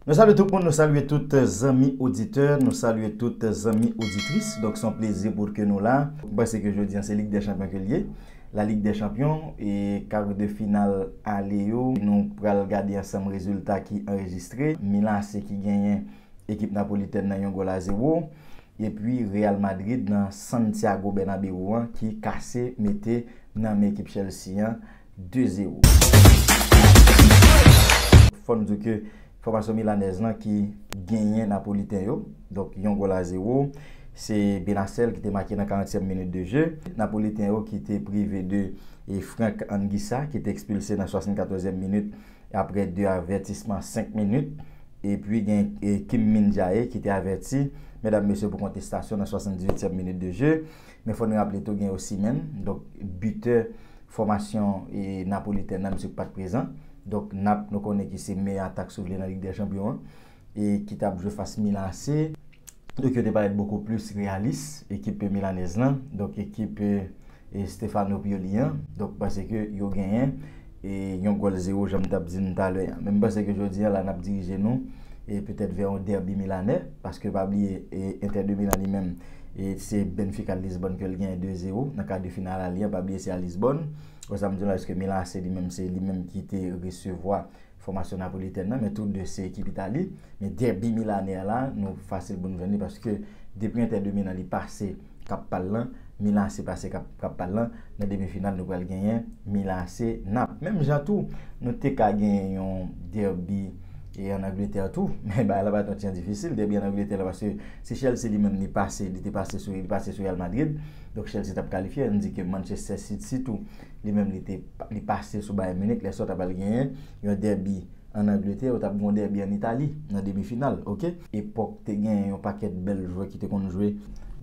Nou salye tout moun, nou salye tout zanmi oditè, nou salye tout zanmi oditris. Donk son plezi pou ke nou la. M panse ke jodi an se lig dè chanpyon ke li ye. La lig dè chanpyon e kar de final ale yo. Nou pral gade ansanm rezilta ki anrejistre. Milan AC ki genyen ekip Napolitèn nan yon gòl a zewo. E pi Real Madrid nan Santiago Bernabeu an ki kase mete nan men ekip Chelsea an. 2 zero. Fò n di w ke fòmasyon milanèz lan ki genyen napoliten yo, donk yon gòl a zero. Se Benacel ki te make nan 40 tièm minit de je. Napoliten yo ki te prive de Franck Anguissa ki te ekspilse nan 74 zièm minit apre 2 avètisman 5 minit. E pi gen Kim Min Jae ki te avèti, medam mesye pou kontestasyon nan 78 tièm minit de je. Men fò n raple tou gen Osimhen, donk bitè fòmasyon napolitèn nan, misye pa t prezan. Donk Nap nou konnen ki se meyè atak si w vle nan Lig dè Chanpyon an e ki t ap jwe fas Milan AC. Donk yo te parèt bokou plis reyalis, ekip milanèz lan, donk ekip Stefano Pioli an, donk pase ke yo genyen. e yon gòl zewo jan m t ap di nou talè an. Men m panse ke jodi an la n ap dirije nou e petèt vè yon dèbi milanè paske pa bliye e Inter de Milan li menm e se Benfica Lisbòn ke l genyen 2 zewo nan kar de final ale an, pa bliye se a Lisbòn. Bon sa m di nou la eske Milan AC li menm se li menm ki te resevwa fòmasyon napolitèn nan men tou 2 se ekip Itali men dèbi milanè an la nou fasil pou nou jwenn li paske depi Inter de Milan li pase kap pal lan Milan AC pa se kap pal lan nan demi final nou pral genyen Milan AC Naples menm jan tou nou te ka genyen yon derby e an Angleterre tou men bagay la pa t yon tjan difisil derby an Angleterre la paske si Chelsea li menm li pase li te pase sou li pase sou Real Madrid donk Chelsea tap kalifye an di ke Manchester City tou li menm li te li pase sou Bayern Munich lè sa w ta pral genyen yon derby An Angletè, yo t ap gen yon dèbi an Itali nan demi final, ok. Epòk te gen yon pakèt bèl jwè ki te konn jwe.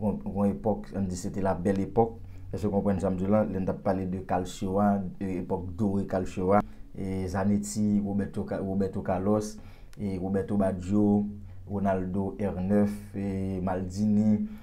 Yon epòk, an n di se te la bèl epòk, èske w konprann sa m di w la, lè n t ap pale de Calcio a, epòk dore Calcio a, Zanetti, Roberto Carlos, Roberto Baggio, Ronaldo R9, Maldini.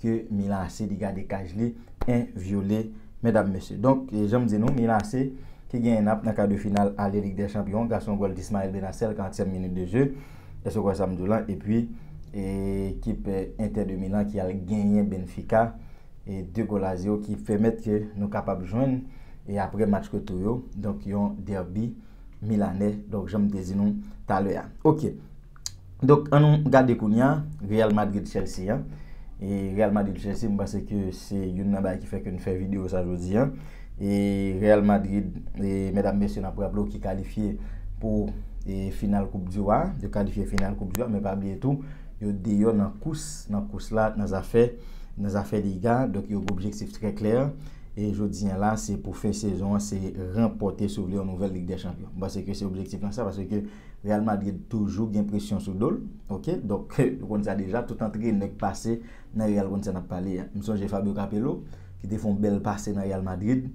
ke Milace li gade kaj li en vyole medam mesye. Donk janm di nou Milace ki genyen nap nan kar de final ale lig dè chanpyon gason gòl Ismael Bennacer 40 èm minit de jeu èske w kwè sam diw lan epi ekip Inter de Milan ki al genyen Benfica 2 gòl a 0 ki pèmèt ke nou kapab jwenn e aprè match retou yo donk yon derby Milanais donk janm te di nou talè a ok. Donk an nou gade kounya Real Madrid Chelsea an e Real Madrid Chelsea m panse ke se youn nan bagay ki fè ke n fè video sa jodi an e Real Madrid e medam mesye n ap raple w ki kalifye pou e final koup di wa yo kalifye final koup di wa men pa bliye tou yo deyò nan kous nan kous la nan zafè nan zafè liga donk yo gen objektif trè klè e jodi an la se pou fen sezon an se ranpòte si w vle yon nouvèl lig dè chanpyon m panse ke se objektif lan sa paske Real Madrid toujou gen presyon sou do l ok donk nou konn sa deja tout antrenè k pase nan Real konn sa nap pale a m sonje Fabio Capello ki te fè yon bèl pase nan Real Madrid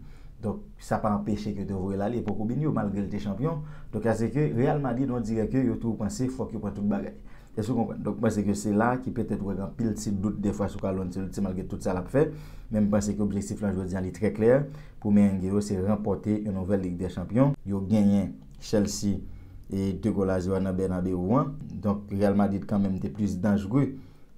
donk sa pa anpeche ke yo te voye l ale epòk Robinho malgre l te chanpyon donk a se ke Real Madrid on dirè ke yo toujou panse fòk yo pran tout bagay èske ou konprann donk m panse ke se la ki petèt ou wè gen anpil ti dout dèfwa sou Carlo Ancelotti malgre tout sa lap fè men m panse ke objektif lan jodi an li trè klè pou Merengue yo se ranpòte yon nouvèl Lig dè Chanpyon yo genyen. Chelsea e 2 gòl a 0 nan Bernabeu an. Donk Real Madrid kan menm te plis danjre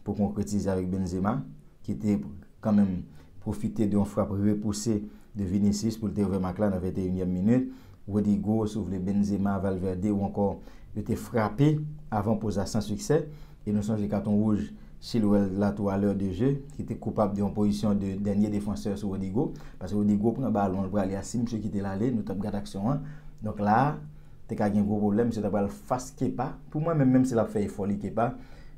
pou konkretize avèk Benzema ki te kan menm pwofite de yon frap repouse de Vinicius pou l te ouvè mak la nan 21 nyèm minit. Rodrygo, si w vle Benzema, Valverde ou ankò yo te frape avan poz la san siksè. E nou sonje katon wouj Chilwell la tou a l'heure de jeu, ki te koupab de yon pozisyon de dènye defansè sou Rodrygo. Paske Rodrygo pran balon, li prale a, si misye kite l ale, nou t ap gad aksyon an. Donk la a, te ka gen gwo pwoblèm, misye ta pral fas Kepa. Pou mwen menm, menm si l ap fè efò li, Kepa,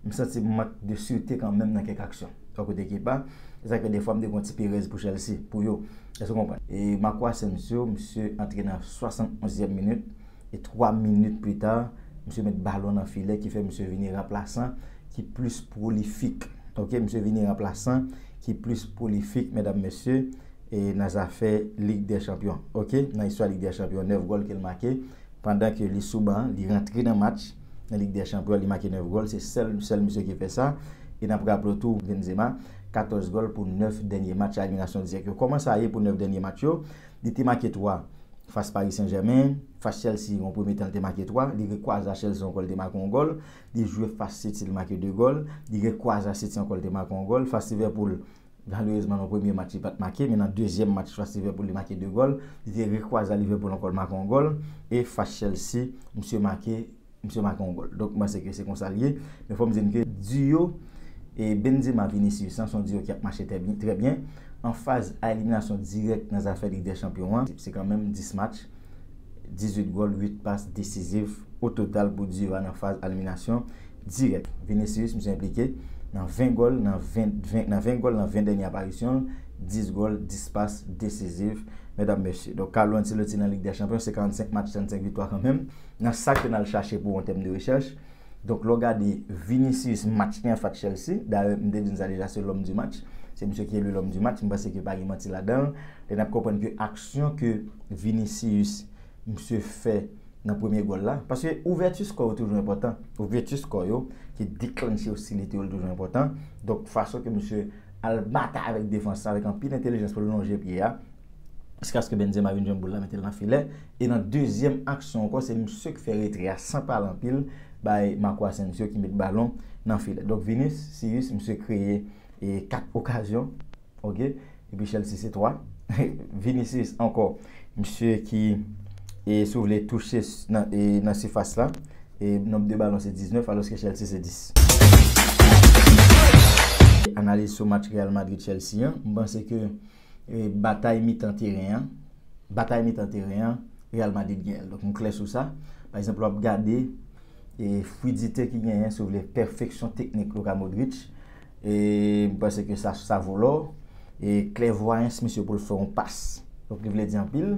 m santi mank de sirte kanmenm nan kèk aksyon. Bò kote Kepa, se sa k fè dèfwa m te gen yon ti perèz pou Chelsea, pou yo. Èske w konprann? E Marco Asensio, misye antre nan 71 zièm minit. E 3 minit pli ta, misye met balon nan filè ki fè misye vini ranplasan ki plis pwolifik. Ok, misye vini ranplasan ki plis pwolifik, medam mesye, e nan zafè Lig dè Chanpyon. Ok, nan istwa Lig dè Chanpyon, 9 gòl ke l make pandan ke li sou ban, li rantre nan match nan Lig dè Chanpyon, li make 9 gòl, se sèl sèl misye ki fè sa. E n ap raple w tou, Benzema, 14 gòl pou 9 dènye match, admirasyon dirèk yo. Kòman sa ye pou 9 dènye match yo? Li te make 3 fas Paris Saint Germain, fas Chelsea yon premye tan li te make 3, li rekwaza Chelsea ankò li te make yon gòl, li jwe fas City li make 2 gòl, li rekwaza City ankò li te make yon gòl, fas Liverpool malerezman nan premye match li pat make men nan dezyèm match fas Liverpool li make 2 gòl, li te rekwaza Liverpool ankò li make yon gòl e fas Chelsea misye make Misye make yon gòl. Donk m panse ke se konsa li ye. Men fò m di n ke duo Benzema, Vinicius lan se yon duo ki ap mache trè byen. An faz a eliminasyon dirèk nan zafè Lig dè Chanpyon an, se kanmenm 10 match, 18 gòl, 8 pas desiziv ototal pou duo a nan faz a eliminasyon dirèk. Vinicius misye enplike nan 20 gòl nan 20 dènye aparisyon l, 10 gòl, 10 pas desiziv. Medam mesye. Donk Carlo Ancelotti nan Lig dè Chanpyon se 45 match, 35 viktwa kanmenm. nan sa ke n al chache pou an tèm de rechèch. Donk lè w gade Vinicius match li an fas Chelsea, dayè m te di n sa deja se L'homme du match, se misye ki eli L'homme du match, m panse ke pa gen manti ladan l, lè n ap konprann ke aksyon ke Vinicius misye fè nan premye gòl la, paske ouvèti skò yo toujou enpòtan, ouvèti skò yo ki deklannche ostilite yo li toujou enpòtan, donk fason ke misye al batay avèk defans la avèk anpil entelijans pou l lonje pye a jiskaske Benzema vin jwenn boul la mete l nan filè. E nan dezyèm aksyon ankò se misye k fè retrè a san pale anpil bay Marco Asensio ki met balon nan filè. Donk Vinicius misye kreye 4 okazyon ok epi Chelsea se 3. Vinicius ankò misye ki si w vle touche nan sifas la e nonb de balon se 19 alòske Chelsea se 10. Analiz sou match Real Madrid Chelsea an, m panse ke batay mitan teren an, batay mitan teren an Real Madrid genyen l. Donk nou klè sou sa. Pa egzanp lè w ap gade fwidite ki genyen, si w vle, pèfeksyon teknik Luka Modric, m panse ke sa, sa vo lò. E klèvwayans misye pou l fè yon pas, donk li vle di anpil.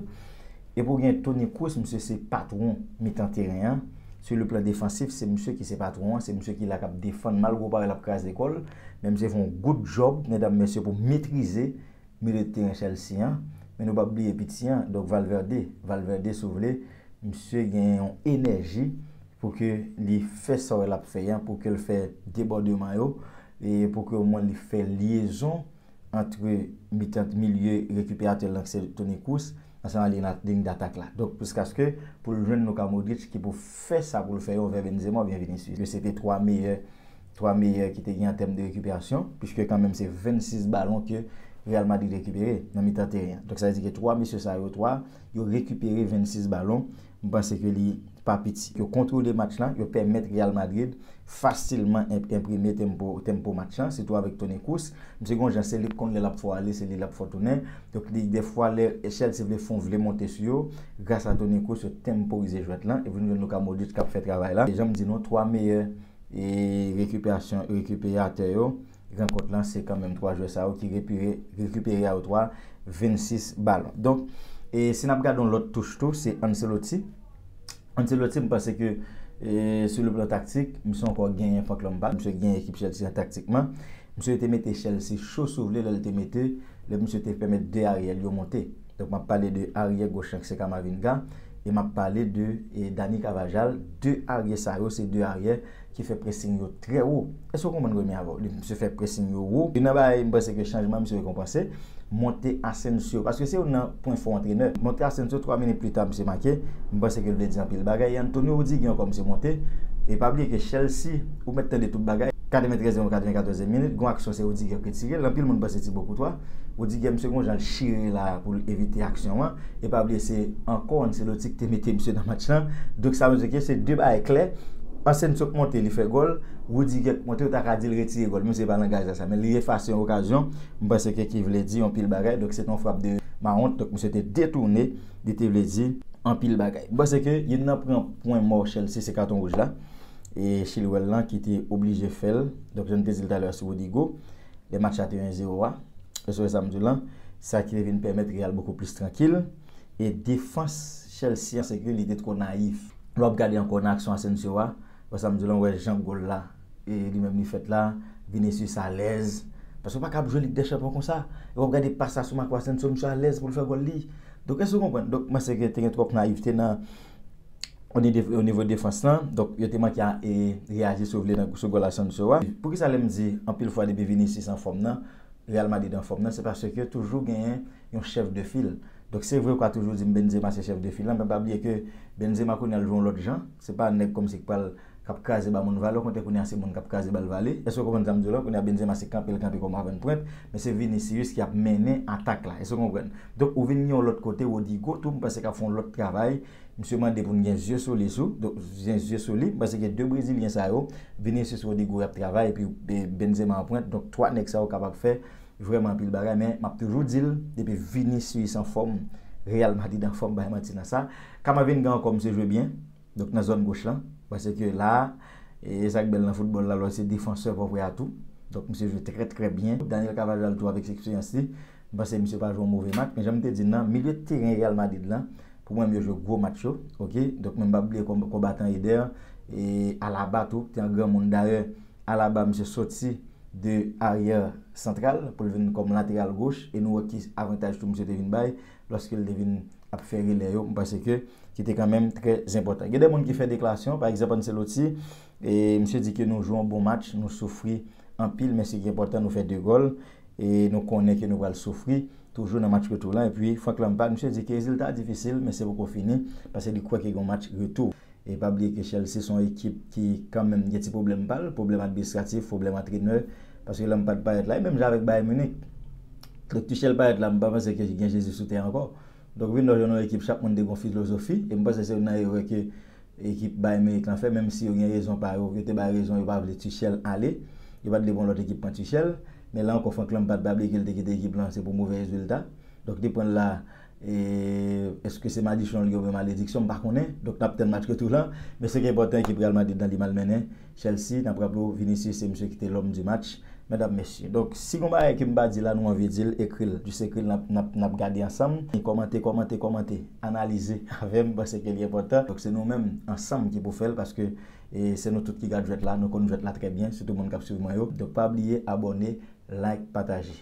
Epi ou gen Toni Kroos, misye se patwon mitan teren an. Sou le plan defansif, se misye ki se patwon an, se misye ki la k ap defann, malgre w pa wè l ap kraze kò l. Men misye fè yon good job medam mesye pou metrize milieu de terrain Chelsea an, men nou pap bliye piti an donk Valverde, Valverde si w vle misye gen yon enèji pou ke li fè sa wè lap fè an pou ke l fè debòdeman yo e pou ke o mwen li fè lyezon antre mitan milieu rekiperatè l lan ki se Toni Kroos ansanm ak ligne datak la donk jiskaske pou l jwenn Luka Modric ki pou fè sa pou l fè yo anvè Benzema oubyen Vinicius yo se te 3 meyè 3 meyè ki te gen an tèm de rekiperasyon, puiske kan menm se 26 balon ke Real Madrid rekipere nan mitan teren an. Donk sa vle di ke 3 mesye sa yo 3, yo rekipere 26 balon, m panse ke li pa piti. Yo kontwole match lan, yo pèmèt Real Madrid fasilman enprime tempo, tempo match lan, sitou avèk Toni Kroos. Misye gen yon jan, se li ki konn lè l ap fò ale, se li l ap fò tounen. Donk li, dèfwa lè Chelsea vle fon, vle monte sou yo, gras a Toni Kroos yo tenporize jwèt lan, epi nou jwenn Luka Modric k ap fè travay la. E jan m di nou, 3 meyè. E rekiperasyon rekiperatè yo, gran kont lan se kanmenm 3 jwè sa yo ki rekipere a yo 3, 26 balon. Donk, e si n ap gade yon lòt touch tou, se Ancelotti. Ancelotti m panse ke sou le plan taktik, misye ankò genyen fòk lòm pa, misye genyen ekip Chelsea an taktikman. Misye te mete Chelsea cho si w vle lè l te mete, lè misye te pèmèt 2 aryèl yo monte. Donk map pale de aryè goch lan ki se Camavinga e map pale de Dani Carvajal, 2 aryè sa yo se 2 aryè ki fè pressing yo trè wo. Èske ou konprann Remy avèw? Misye fè pressing yo wo. Youn nan bagay m panse ke chanjman misye rekonpanse, monte Asensio paske se youn nan pwen fò antrenè. Monte Asensio 3 minit pli ta misye make, m panse ke l vle di anpil bagay e Antonio Rudiger ankò misye monte e pa bliye ke Chelsea ou mèt tande tout bagay. 93 e yon 94 e minit, gon aksyon se Rudiger ki tire l, anpil moun panse Thibaut Courtois. Rudy Game se konjan l chire la pou l evite aksyon an e pa bliye se ankò Ancelotti ki te mete misye nan match lan donk sa vle di ke se 2 bagay klè Asensio k monte li fè gòl Rudy Game k monte ou ta ka di l retire gòl menm si se pa langaj la sa men li efase yon okazyon m panse ke ki vle di yon pil bagay donk se te yon frap de Mount donk misye te detoune li te vle di anpil bagay m panse ke youn nan pran pwen mò Chelsea se katon wouj la e Chilwell lan ki te oblije fè l donk jan m te di l talè a sou Rodrygo. lè match la te 1 0 a, ou wè sa m di w lan, sa ki te vin pèmèt Real bokou plis trankil, e defans Chelsea an se ke li te two nayif. Lè w ap gade ankò nan aksyon Asensio a, ou wè sa m di w lan, ou wè jan gòl la e li menm li fèt la, Vinicius alèz, paske ou pa ka ap jwe Lig dè Chanpyon konsa, e w ap gade pas la sou Marco Asensio, misye alèz pou l fè gòl li, donk èske w konprann, donk m panse ke te gen twòp nayifte nan. onivo defans lan, donk yo te manke reyaji si w vle sou gòl Asensio a. Poukisa lè m di anpil fwa depi Vinicius anfòm nan, Real Madrid anfòm nan, se paske toujou genyen yon chèf de fil. Donk se vre ou ka toujou di m Benzema se chèf de fil lan, men pa bliye ke Benzema kounye a l jwe yon lòt jan, se pa nèg kòmsi k pral k ap kraze ba moun vale, okontrè kounye a se moun k ap kraze ba l vale. Èske w konprann sa m di w la? Kounye a Benzema se kanpe l kanpe kòm avannpwent, men se Vinicius ki ap mennen atak la. Èske w konprann? Donk ou vin gen yon lòt kote, Rodrygo tou m panse k ap fè yon lòt travay. Misye mande pou n gen zye sou li sou, donk gen zye sou li, pase ke 2 brezilyen sa yo, Vinicius Rodrygo y ap travay epi Benzema an pwent, donk 3 nèg sa yo kapab fè vrèman anpil bagay, men m ap toujou di l, depi Vinicius an fòm, Real Madrid an fòm, bay manti nan sa. Camavinga ankò misye jwe byen, donk nan zòn goch lan, pase ke la a, e sa k bèl nan foutbòl la, lè w se defansè, fò w fè atou, donk misye jwe trè trè byen. Daniel Carvajal tou avèk eksperyans li. M panse misye pa jwe yon move match, men jan m te di nan, milye teren Real Madrid lan, pou mwen yo jwe gwo match yo, ok, donk men m pa bliye konbatan Eder, e Alaba tou te yon granmoun, dayè Alaba misye soti de aryè santral pou l vin kòm lateral goch, e nou wè ki avantaj tou misye te vin bay lòske l te vin ap fè relè yo, m panse ke ki te kanmenm trè zenpòtan. Gen de moun ki fè deklarasyon, pa egzanp Ancelotti, E misye di ke nou jwe yon bon match, nou soufri anpil men se ki enpòtan nou fè 2 gòl e nou konnen ke nou pral soufri toujou nan match retou lan. Epi Frank Lampard, misye di ke rezilta a difisil men se poko fini paske li kwè ke gen yon match retou. E pa bliye ke Chelsea se yon ekip ki kanmenm gen ti pwoblèm pa l, pwoblèm administratif, pwoblèm antrenè paske Lampard parèt la. E menm jan avèk Bayern Munich, lè Tuchel parèt la m pa panse ke gen Jezi sou tè ankò. Donk vin wè jan nou ekip chak moun te gen yon filozofi e m panse se youn nan erè ke Ekip Bayern Munich lan fè, menm si yo gen rezon pa yo, yo te bay rezon yo pa vle Tuchel ale. Yo pa t vle pou yon lòt ekip pran Tuchel. Men la ankò Frank Lampard pa vle ke l te kite ekip lan, se pou move rezilta. Donk li pran l la. E eske se madichon li oubyen malediksyon, m pa konnen. Donk n ap tann match retou lan. Men sa ki enpòtan ekip Real Madrid lan li malmennen. Chelsea nan pran pou Vinicius se misye ki te l'homme du match Medam mesye donk si gon bagay ke m pa di la nou anvi di l ekri l jis ekri l nap nap gade ansanm e kòmante kòmante kòmante analize avè m pase ke li enpòtan donk se nou menm ansanm ki pou fè l paske e se nou tout ki gad jwèt la nou konn jwèt la trè byen sitou moun kap swiv mwen yo donk pa bliye abòne like pataje.